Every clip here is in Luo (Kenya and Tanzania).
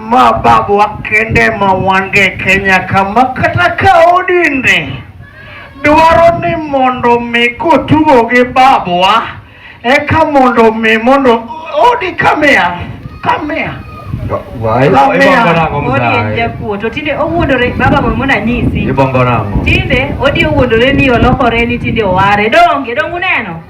Ma babu wakende ma wange Kenya kama kata ka odinde dwaro ni mondo mi kotugo gi babwa eka mondo mi mondo odi kamea kamea tinde odi owuondore ni olokore ni tinde oware donge donge uneno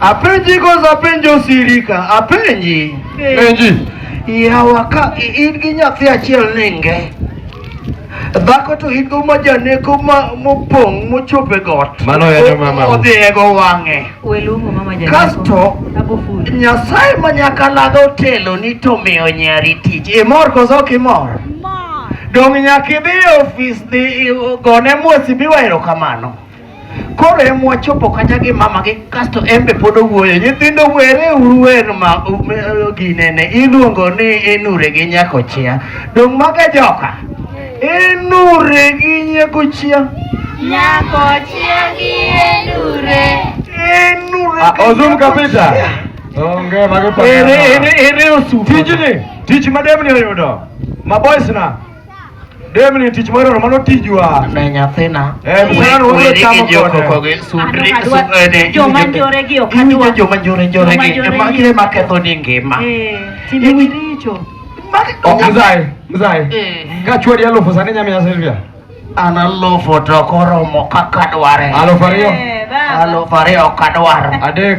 Apenji koso apenji osirika? Apenji. Penji. Yawa ka i- in gi nyathi achiel ninge. Dhako to in go majaneko ma mopong' mochopo e got. Mano yanyo mama. Odhi e go wang'e. Weluongo mama janeko. Kasto Ago full. Nyasaye ma nyaka laga otelo ni to miyo nyari tich. Imor koso ok imor? Dong' nyaka idhi e ofis dhi i- gone mwesi biwa erokamano. Koro em wachopo kata gi mama gi kasto en be pod owuoyo. Nyithindo were uru wer ma um, eh, ginene iluongo ni inure gi nyako chia. Dong' maga joka. Inure gi nyako chia. Nyako chiegi endure. Inure Ah, gi Ozum nyako kapita. chia. Onge magi Ere ere ere osuko. Tijni, tich ma demni oyudo. Ma boys na. Demni tich moro mano tijwa. Ne nyathina. Eh, mwana wabiro chamo kode. Eh, joma njore gi ok adwa. Joma njore njore gi. Ema gire ma ketho ni ngima. Eh, timbe richo. Ok mzai, mzai. Eh. Ka chwadi alufu sani nyamiya Silvia. An alufu to koromo kaka dware. Alufu ariyo. Eh, alufu ariyo kadwaro. Adek.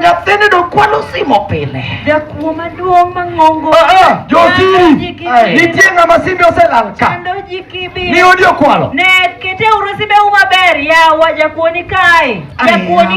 Nyathini do kwalo simo pile. Jakuo maduong' mang'ongo. Ah, ah, Josiri, nitie ng'ama simbe oselal ka. Chando ji kibi. Ni odi okwalo. Ne kete uru simbe u maber, yawa jakuo ni kae. Jakuo ni